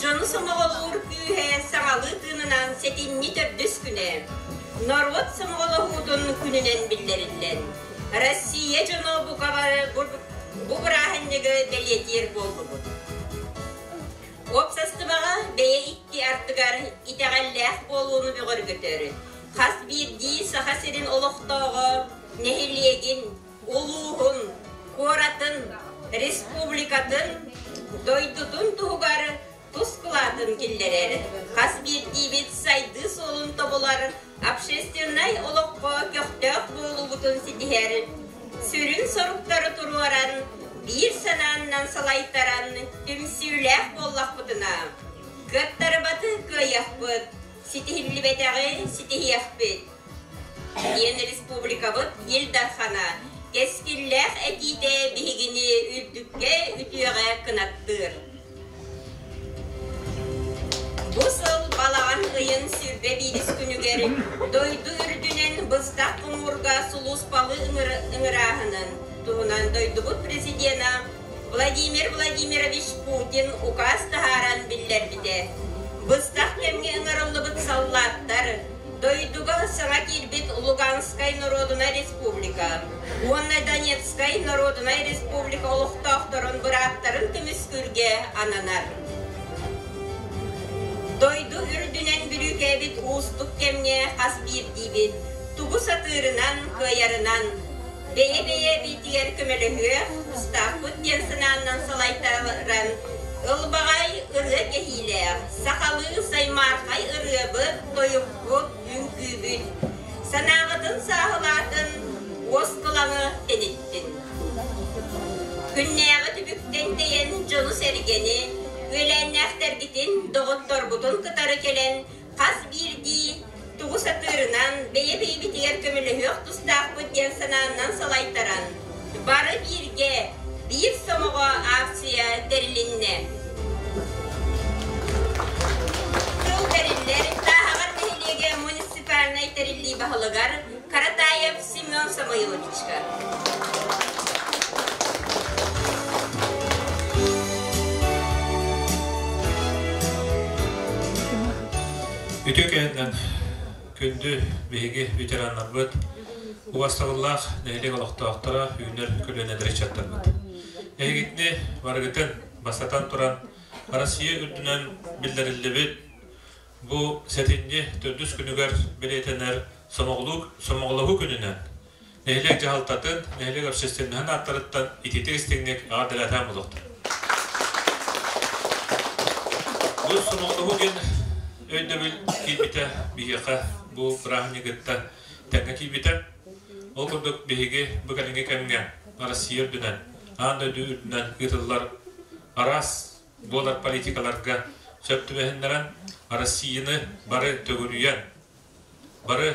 Дьону сомоҕолуур күүһэ саҥалыы тыынынан сэтинньи төрдүс күнэ. Норуот сомоҕолоһуутун күнүнэн биллэриллэн, Россия дьоно бука бары бу бырааһынньыгы бэлиэтиир буоллубут. Уопсастыбаҕа бэйэ икки ардыгар итэҕэллээх буолууну бөҕөргөтөр хас биирдии Саха сирин олохтооҕо, нэһилиэгин, улууһун, куоратын, республикатын, дойдутун туһугар тус кылаатын киллэрэр, хас биирдиибит сайдыы суолун тобулар общественнай олоххо көхтөөх буолуубутун ситиһэр, сүрүн соруктары туруоран, биир санааннан салайтаран түмсүүлээх буоллахпытына, кыаттарбаты кыайыахпыт, ситиһиллибэтэҕи ситиһиэхпит. Диэн республикабыт Ил Дархана кэскиллээх этиитэ биһигини үрдүккэ үтүөҕэ кынаттыыр. Бу сыл балаҕан ыйын сүрбэ биирис күнүгэр дойду үрдүнэн быстах хомуурга сулууспалыы ыҥырааһынын туһунан дойдубут президенэ Владимир Владимирович Путин указ таһааран биллэрбитэ. Быстах кэмҥэ ыҥырыллыбыт саллааттар дойдуга саҥа киирбит Луганскай норуодунай республика уонна Донецкай норуодунай республика олохтоохторун бырааптарын көмүскүүргэ ананар. Дойду үрдүнэн бүрүүкээбит уустук кэмҥэ хас биирдиибит тугу сатыырынан, кыайарынан, бэйэ-бэйэ эбиитигэр көмөлөһүө тустаахпыт диэн санааннан салайтаран, ылбаҕай ырыа кэһиилээх, сахалыы саймархай ырыабыт-тойукпут үҥкүүбүн, санаабытын сааһылаатын уоскулаҥы тиниттин. Күннээҕи түбүктэн тэйэн дьолу-сэргэни, үөлээннээхтэргитин, доҕотторбутун кытары кэлэн Хас биирдии тугу сатыырынан, бэйэ-бэйэбитигэр көмөлөһүөх тустаахпыт диэн санааннан салайтаран, бары бииргэ Биир сомоҕо акция тэрилиннэ. Тыл тэриллэр сааһыгар нэһилиэгэ муниципальнай тэриллии баһылыгар Каратаев Семен Самойловичка. Үтүө кэннен күндү биһиги ветераннарбыт, убастабыллаах нэһилиэк олохтоохторо үүнэр көлүөнэлэри чаттарбыт. Эһигитини барыгытын, бастатан туран, Россия үрдүнэн биллэриллибит Бу сэтинньи төрдүс күнүгэр бэлиэтэнэр Сомоҕолоһуу күнүнэн нэһилиэк дьаһалтатын, нэһилиэк общественноһын ааттарыттан итиитик-истиҥник аҕа дэлээтээм олохтор. Бу Сомоҕолоһуу диэн өйдөбүл киирбитэ биһиэхэ бу бырааһынньыгы кытта тэҥҥэ киирбитэ. Ол курдук биһиги бу кэлиҥҥи кэмҥэ Россия үрдүнэн, аан дойду үрдүнэн ыытыллар араас Дуолар политикаларга сөп түбэһиннэрэн, Россияны бары төгүрүйэн, бары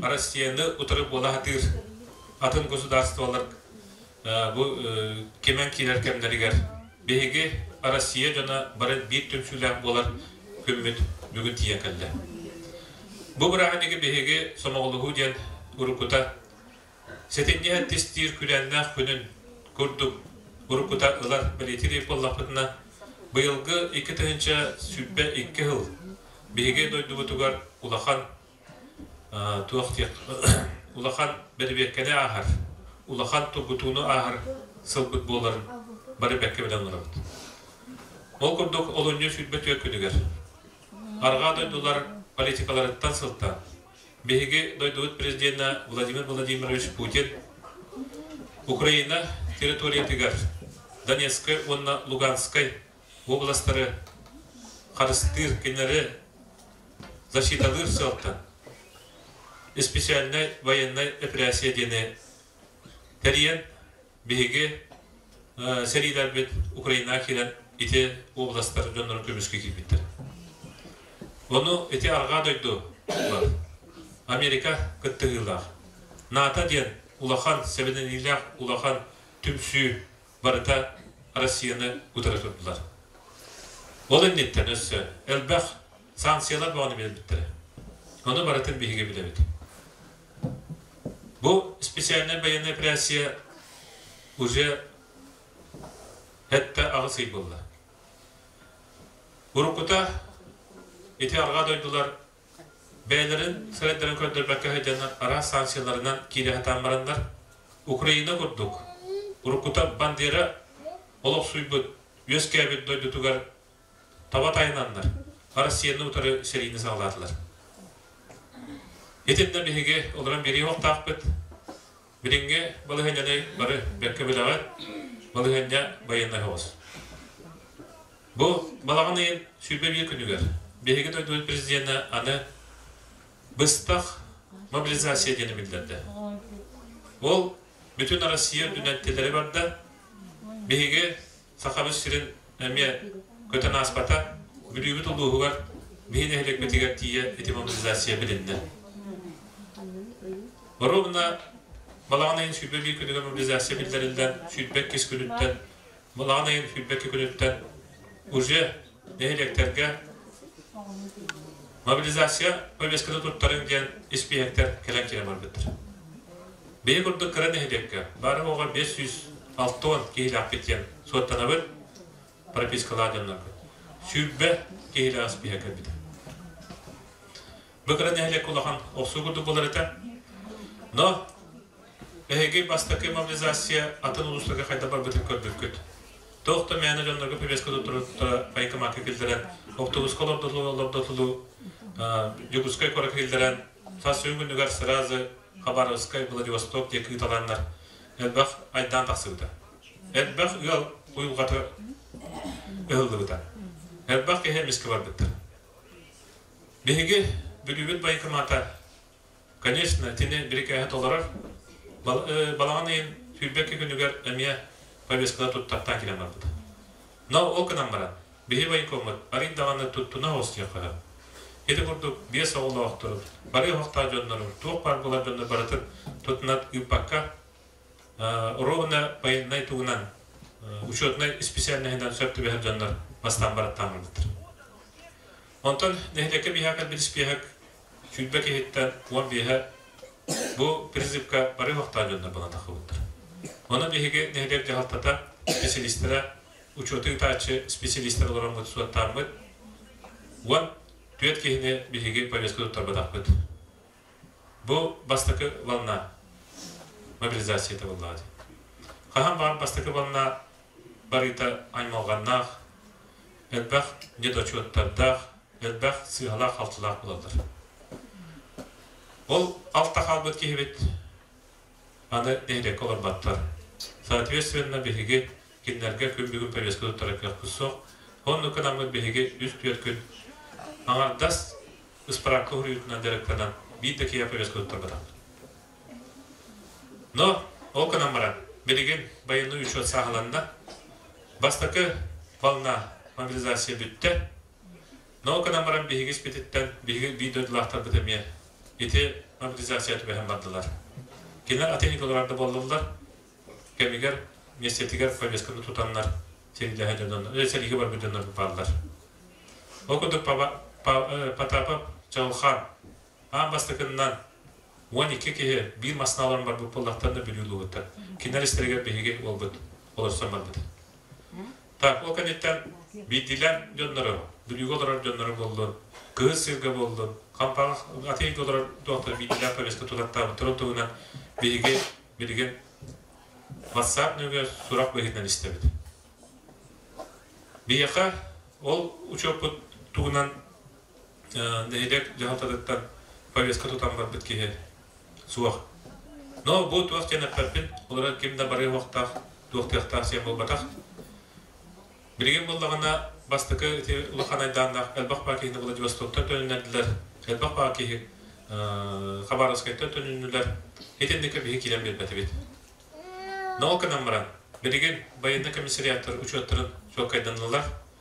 Россияны утары буола сатыыр атын государстволар бу кимэн киирэр кэмнэригэр биһиги Россия дьоно бары биир түмсүүлээх буолар күммүт бүгүн тиийэн кэллэ. Бу бырааһынньыгы биһиги Сомоҕолоһуу диэн уруккута Сэтинньи эттистиир күлээннээх күнүн курдук уруккута ылар бэлиэтиир буоллахпытына, быйылгы икки тыһыынча сүүрбэ икки сыл биһиги дойдубутугар улахан туох диэх улахан бэрэбиэркэни ааһар, улахан тургутууну ааһар сылбыт буоларын бары бэккэ билэн олоробут. Ол курдук олунньу сүүрбэ түөрт күнүгэр Арҕаа дойдулар политикаларыттан сылтаан Биһиги дойдубут президенэ Владимир Владимирович Путин Украина территориятыгар Донецкай уонна Луганскай областары харыстыыр кинилэри защиталыыр сыалтан испециальнай военнай эпэрээссийэ диэни тэрийэн Биһиги сэриилэрбит Украинаҕа киирэн ити областар дьоннорун көмүскэ киирбиттэр. Ону ити арҕаа дойду бар. Америка кыттыһыылаах. НАТО диэн улахан, сэбэнэниилээх улахан түмсүү барыта Россияны утары турдулар. Ол инниттэн өссө элбэх Санкциялар бөҕөнү билэрбиттэрэ. Ону барытын биһиги билэбит. Бу специальная военная операция уже этте аҕыс ый булла. Уруккута ити арҕаа дойдулар бэйэлэрин сайдарын көрдөрбөккө сылдьан араас санкцияларынан киирэ сатаан бараннар Украина курдук уруккута Бандера олохсуйбут үөскээбит дойдутугар таба тайананнар Россияны утары сэриини саҕалаатылар. Итиннэ биһиги олорон биэрии оһохтаахпыт. Билиҥҥи балаһыанньаны бары бэркэ билэҕит. Балаһыанньа байыаннай соҕус. Бу балаҕан ыйын сүүрбэ биир күнүгэр биһиги дойдубут президенэ аны быстах мобилизация диэни биллэрдэ. Ол бүтүн Россия үрдүнэн тилэри барда. Биһиги Сахабыт сирин эмиэ көтөн ааспата. Бүлүүбүт улууһугар биһи нэһилиэкпитигэр тиийэ ити мобилизация билиннэ. Боруобуна балаҕан айын сүүрбэ биир күнүгэр мобилизация биллэриллэн, сүүрбэ иккис күнүттэн, балаҕан айын сүүрбэ икки күнүттэн уже нэһилиэктэргэ мобилизация повестката туттарыҥ диэн испииһэктэр кэлэн киирэн барбыттар. Бэйи курдук кыра нэһилиэккэ бары бес сүүс алтон киһилээхпит диэн суоттанабыт, пропискалаан дьоннорбут. Сүүрбэ киһилээх испииһэк кэлбитэ. Бу кыра нэһилиэк улахан охсуу курдук буолар этэ. Но эһиги бастакы мобилизация атын улуустарга хайдах барбытын көрбүккүт. Тоох да мээнэ дьоннорго повестка туттуруттара военкоматка киллэрэн, автобуска олордолу олордолу Дьокуускай куоракка киллэрэн сас күнүгэр сразу Хабаровскай, Владивосток диэки ыыталаннар элбэх айдаан тахсыбыта. Элбэх ыал уйулҕата ыһыллыбыта. Элбэх киһи эмискэ барбыттар. Биһиги Бүлүүбүт байкомата, конечно, тини бирикээһи толорор. Балаҕан ыйын сүүрбэкки күнүгэр эмиэ повесткалар туттартаан киирэн барбыта. Но ол гынан баран, биһи байкоммут арыый даҕаны туттуна оҕустуохха Ити курдук биэс оҕолоохтору, бары оһохтоох дьоннору, туох баар буолар дьоннор барытын туттунат ыыппакка, уруогуна байыаннай тугунан, учетнай исписээлинэһинэн сөп түбэһэр дьоннор бастаан бараттааммыттар. Онтон нэһилиэккэ биһиэхэ кэлбит испиэһэк сүүрбэ киһиттэн уон биэһэ бу призывка бары олохтоох дьоннор буолан тахсыбыттар. Онон биһиги нэһилиэк дьаһалтата специалистара, учуоту ыытааччы специалистар олороммут суоттааммыт, уон түөрт киһини биһиги повестка туттарбатахпыт. Бу бастакы ванна мобилизацията буоллаҕа дии. Хаһан баар бастакы ванна барыыта аймалҕаннаах, элбэх недочуоттардаах, элбэх сыыһалаах-халтылаах буолаллар. Ол алта хаалбыт киһибит аны нэһилиэккэ олорботтор. Соответственно, биһиги кинилэргэ күн-бүгүн повестка туттара кыахпыт суох. Оннук гынаммыт биһиги үс-түөрт күн аҥардас ыспыраапка уһуйуутунан дьарыктанан биир да киһи повестка туттарбатах. Но ол гынан баран билигин байыаннай учет сааһыланна. Бастакы волна мобилизация бүттэ. Науканан баран биһиги испититтэн биһиги биир дойдулаахтарбыт эмиэ ити мобилизация түбэһэн бардылар. Кинилэр атын николардар да буоллулар. Кэмигэр миэстэтигэр повестканы тутаннар сирилэһэ дьоннор, э, сэлиигэ барбыт дьоннор бааллар. Ол курдук Потапов Чаҕылхан аан бастакыннан уон икки киһи биир массына олорон барбыт буоллахтарына бүлүү ылбыттар. Кинилэр истэригэр биһиги уолбут олорсон барбыт. Тарпо кэнниттэн биирдиилээн дьоннорун, бүрүүгэ олорор дьоннорун буллун, кыыс сиргэ буллун, хампаах ат иһиггэ олорор туохтар биирдиилээн повестка тутаттаабыттарын туһунан биһиги билигин ватсап нөҥүө сурах быһыытынан истэбит. Биһиэхэ ол учуоппут туһунан нэһилиэк дьаһалтатыттан повестка тутан барбыт киһи суох. Но бу туох диэн эппэппин, олорор ким да бары уохтаах, туохтыахтаах сиэн буолбатах. Билигин буоллаҕына бастакы ити улахан айдааннаах элбэх баар киһини Владивостоктан төнүннэрдилэр, элбэх баар киһи Хабаровскайтан төнүннүлэр. Итинникэ биһи киирэн биэрбэтибит. Но ол гынан баран, билигин байыаннай комиссариаттар учуоттарын чуолкайданнылар.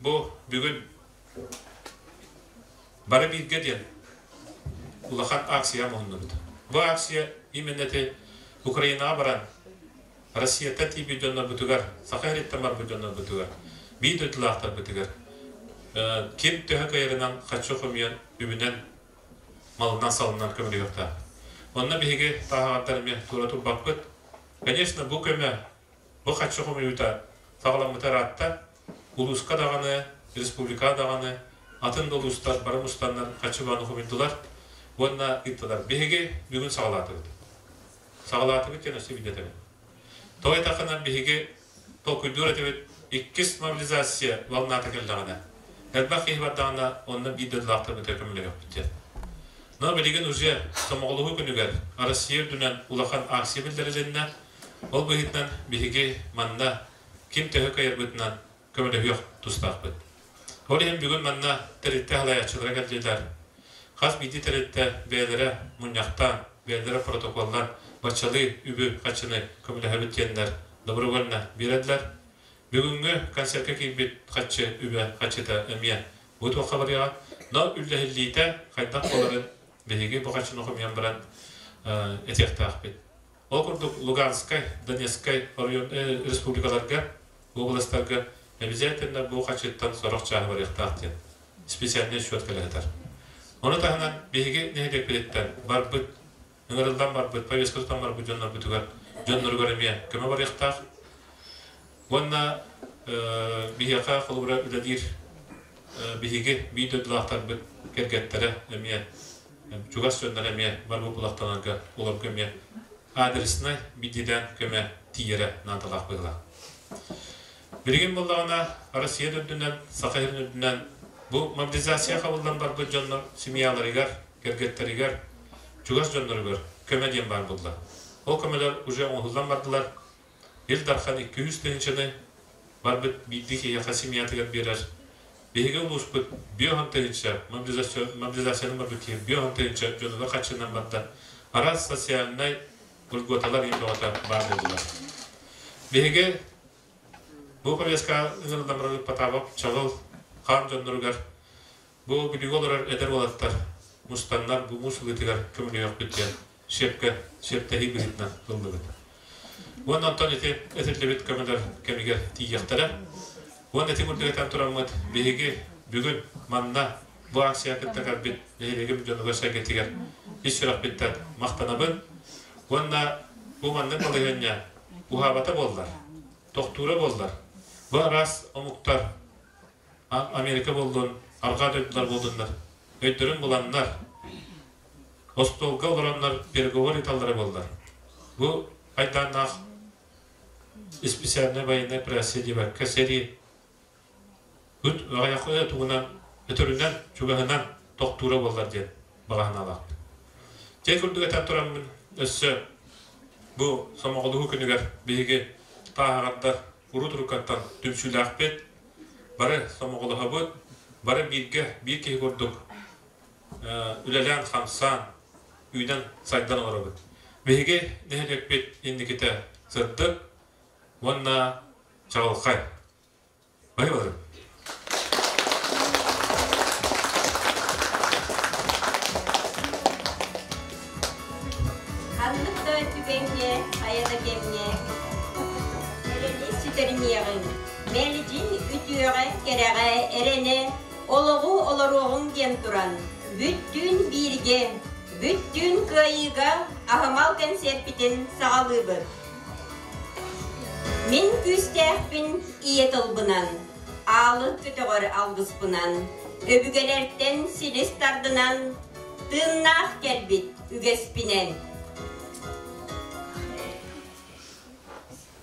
Бу бүгүн бары бииргэ диэн улахан акция муннубут. Бу акция именно Украинаға баран Россията тиби доннорбутугар, Саха эриттамарбут доннорбутугар, бии дойдулаахтарбытыгар ким төһө кайырынан хаччы хомуйан үбүнэн малынан салынан көмөлөһүөхтээх. Онно биһиги таһаҕардар эмиэ туора турбаппыт. Конечно, бу көмө Бу хаччы хомуйуута саҕаламмыта ыраатта, улууска даҕаны, республикаҕа даҕаны атын да улуустар бары мустаннар хаччыбааны хомуйдулар уонна ыыттылар. Биһиги бүгүн саҕалаатыбыт. Саҕалаатыбыт диэн өссө билбэтэбин. Тоҕо этаххына, биһиги толкуйдуур этибит, иккис мобилизация волната кэллэҕинэ, элбэх киһи бардаҕына, онно биир дойдулаахтарбытыгар көмөлөһүөхпүт диэн. Но билигин уже Сомоҕолоһуу күнүгэр Россия үрдүнэн улахан акция биллэрилиннэ. Ол быһыытынан биһиги манна ким төһө кыайарбытынан көмөлөһүөх тустаахпыт. Ол иһин бүгүн манна тэрилтэ салайааччылара кэллилэр. Хас биирдии тэрилтэ бэйэлэрэ мунньахтаан, бэйэлэрэ протоколлаан баччалыы үбү харчыны көмөлөһөбүт диэннэр добровольно биэрэллэр. Бүгүҥҥү концертка киирбит харчы үбэ харчыта эмиэ бу туохха барыаҕа. Но үллэһиллиитэ хайдах буоларын биһиги бу харчыны хомуйан баран этиэхтээхпит. Ол курдук Луганскай, Донецкай оройуон республикаларга, уобаластарга обязательно бу хачыыттан сорох чааһы барыахтаах диэн специальнай счет кэлэһитэр. Ону таһынан биһиги нэһилиэкпититтэн барбыт, ыҥырыллан барбыт, повесткатыттан барбыт дьоннорбутугар дьонноругар эмиэ көмө барыахтаах. Уонна биһиэхэ, холобура, үлэлиир биһиги биир дойдулаахтарбыт кэргэттэрэ эмиэ, чугас дьоннор эмиэ бар буулахтанарга олорго эмиэ адреснай биддидээн көмө тиийэрэ наадалаах быһыылаах. Билигин буоллаҕына, Россия үрдүнэн, Саха сирин үрдүнэн бу мобилизация хабыллан барбыт дьоннор семьяларыгар, кэргэттэригэр, чугас дьонноругар көмө диэн баар буолла. Ол көмөлөр уже оҥоһуллан бардылар, Ил Дархан икки-үс тыһыынчаны барбыт биирдии киһиэхэ семьятыгар биэрэр. Биһиги улууспут биэс уон тыһыынча мобилизацияны барбыт киһи биэс уон тыһыынча дьонуна хаччынан барда. Араас социальнай льготалар иин бөҕөтө баар буоллулар. Биһиги бу повестка ыҥырыллан барар Ипатаабап Чалыл хаан дьонноругар бу бүлүүгэ олорор эдэр уолаттар мустаннар бу муус ылыытыгар көмөлөһүөхпүт диэн сөпкө сөптөһүү быһыытынан ыллыбыт. Уон онтон ити этиллибит көмөлөр кэмигэр тиийиэхтэрэ. Уон этин үрдүгэтэн тураммыт биһиги бүгүн манна бу акция кытта көрбүт нэһилиэгим дьонугар сэргэтигэр ис сүрөхпиттэн махтанабын. Уонна бу маннык балаһыанньа уһаабата буоллар, тохтуура буоллар, бу араас омуктар Америка буоллун, арҕаа дойдулар буоллуннар, өйдөрүн буланнар, остуолга олороннор переговор ыыталлара буоллар бу айдааннаах испециальнай военная операция диэбэккэ сэрии күн аҕыйахы тугунан өтөрүнэн чугаһынан тохтуура буоллар диэн баҕаһынаалаахпын дьэ курдук этэн тураммын өссө бу сомоҕолоһуу күнүгэр биһиги тааһаҕардар урут уруккаттан түмсүүлээхпит бары сомоҕолоһобут бары бииргэ биир киһи курдук үлэлээн-хамсаан, үүнэн, сайдан олоробут. Биһиги нэһилиэкпит инникитэ сырдык уонна чаҕылхай. Баһыыбарым. Ханнык да түгэҥҥэ, айана кэмҥэ эрэни сүтэримиэҕиҥ. Мэлдьи үтүөҕэ, кэрэҕэ эрэнэ Олоҕу олоруоҕуҥ диэн туран, бүттүүн бииргэ, бүттүүн кыайыыга аһымал кэнсиэрпитин саҕалыыбыт. Мин күүстээхпин ийэ тылбынан, аалын көтөҕөр алгыспынан, өбүгэлэртэн силис тардынан, тыыннаах кэлбит үгэспинэн.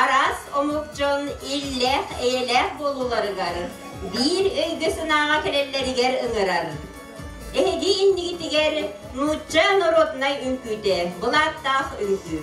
араас омук дьон иллээх-эйэлээх буолууларыгар, биир өйгө-санааҕа кэлэллэригэр ыҥырар. Эһиги иннигитигэр нуучча норуодунай үҥкүүтэ, былааттаах үҥкүү.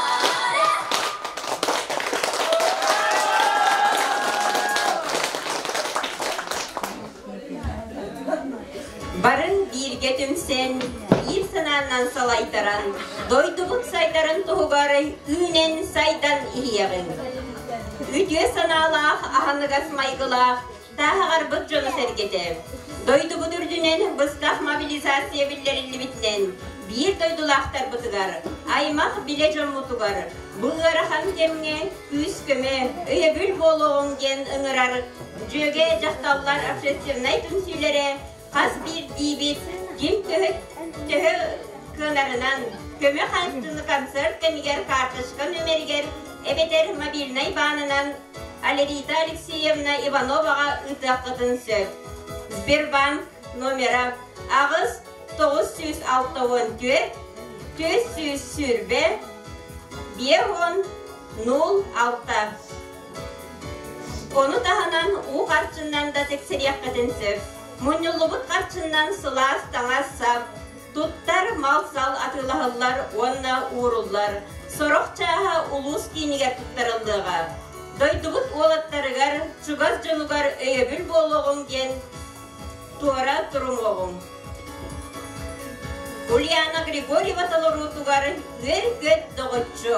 Барын бииргэ түмсэн, биир санааннан салайтаран, дойдубут сайдарын туһугар үүнэн сайдан иһиэҕиҥ. Үтүө санаалаах, аһыныгас майгылаах Тааһаҕарбыт дьоно-сэргэтэ дойдубут үрдүнэн быстах мобилизация биллэриллибитинэн биир дойдулаахтарбытыгар, аймах билэ дьоммутугар бу ыарахан кэмҥэ күүс-көмө, өйөбүл буолуоҕуҥ диэн ыҥырар дьүөгэ дьахталлар общественнай түмсүүлэрэ хас биирдиибит дьиҥ төһө төһө кыанарынан көмө хаҥчыны концерт кэмигэр карточка нүмеригэр эбэтэр мобильнай баанынан Алерита Алексеевна Ивановаҕа ыытыаххытын сөп. Сбербанк номера аҕыс тоҕус сүүс алта уон түөрт түөрт сүүс сүүрбэ биэ уон нуль алта Ону таһынан уу харчынан да тиксириэххитин сөп. Мунньуллубут харчынан сылаас таҥас-сап, Туттар, мал-сал атыылаһыллар уонна ууруллар. Сорох чааһа улуус киинигэр туттарыллыаҕа. Дойдубут уолаттарыгар, чугас дьонугар өйөбүл буолуоҕуҥ диэн туора турумуоҕуҥ. Ульяна Григорьева толоруутугар Үөр-көт доҕоччу.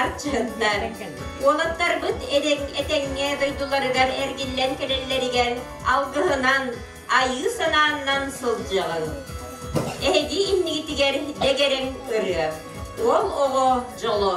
Арчыттар, уолаттарбыт этэҥҥэ дойдуларыгар эргиллэн кэлэллэригэр алгыһынан, айыы санааннан сылдьыгын. Эһиги иннигитигэр дэгэрэҥ ырыа, уол оҕо дьоло.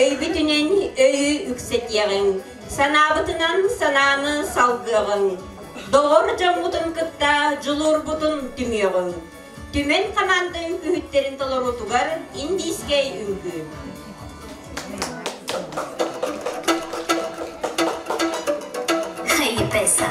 Өйбүтүнэн өйү үксэтиэҕиҥ, санаабытынан санааны салгыаҕыҥ. Доҕор дьоммутун кытта дьулуурбутун түмүөҕүҥ. Түмэн хамаандыҥ үһүттэрин толоруутугар индийскэй үҥкүүн. Хайыпеса.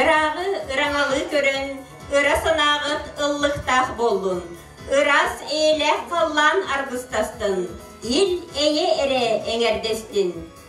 Ырааҕы ыраҥалыы көрөн, ыра санааҕыт ыллыктаах боллун. Ырас ээлээх халлаан аргыстастын, ил эйэ эрэ эҥэрдэстин.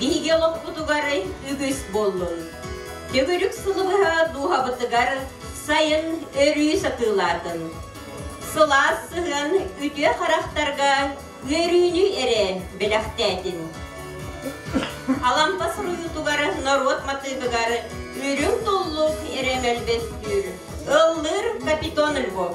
Биһиги олохпутугар үгүс буоллун. Төгүрүк сылы быһа дууһабытыгар сайын өрүү сатыылаатын. Сылаас сыһыан үтүө харахтарга үөрүүнү эрэ бэлэхтээтин. Алампа суруйуутугар норуот матыыбыгар үрүҥ туллук эрэ мөлбөстүүр, ыллыыр капитон Львов.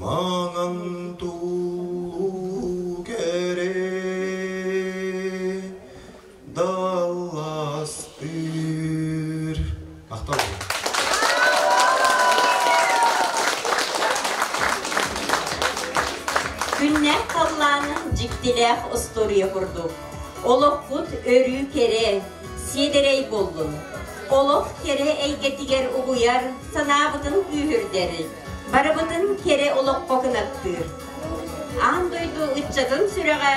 Маҥан туулуу кэрэ далластыыр Ахтал Күннээх халлаанын дьиктилээх устуоруйа курдук. Олохпут өрүү кэрэ, сиэдэрэй буоллун. Олох кэрэ эйгэтигэр угуйар санаабытын күүһүрдэрин, барыбытын кэрэ олоххо кынаттыыр. Аан дойду ыччатын сүрэҕэ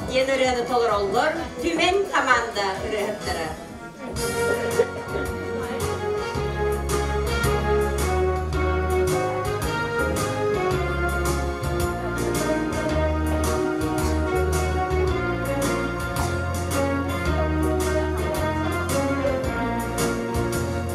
диэн ырыаны толороллор Түмэн команда ырыаһыттара.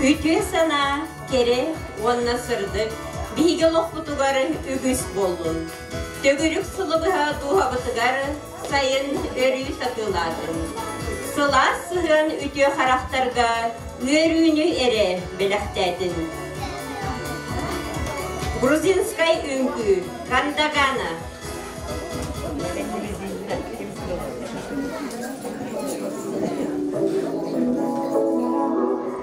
Үтүө санаа, кэрэ уонна сырдык биһиги олохпутугар үгүс буоллун. Төгүрүк сылы быһа дууһабытыгар сайын өрүү сатыылаатым. Сылаас сыһыан үтүө харахтарга ыарыыны эрэ бэлэхтээтин. Грузинскай үҥкүү Кандагана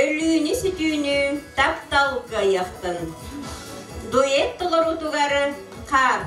Өлүүнү-сүтүүнү тапталга айахтын, дуэт толоруутугар хаар.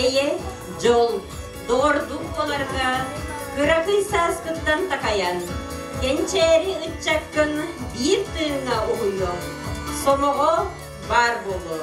Эйэ, дьол, доордук буоларга кыракый сааскыттан такайан, кэнчээри ыччаккын биир тыыҥҥа уһуйуо, сомоҕо баар буолуо.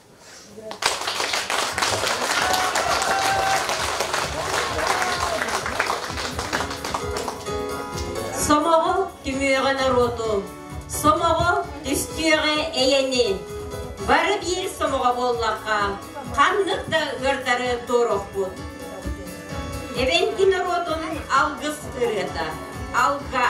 Сомоҕо түҥүөҕэ норуоту, сомоҕо түстүөҕэ эйэни. Бары биир сомоҕо буоллахха, ханнык да ыардары туорахпут. Эбэҥки норуотун алгыс ырыата, алга,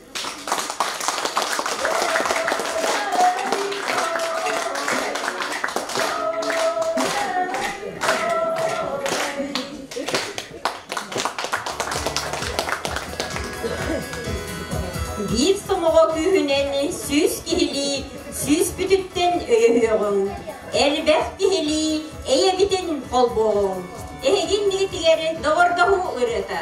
Биир сомоҕо күүһүнэн сүүс киһилии сүүс бүтүттэн өйөһүөҕүҥ. Элбэх киһилии эйэбитин холбооҕуҥ. Эһигин миитигэр доҕордоһуу ырыата.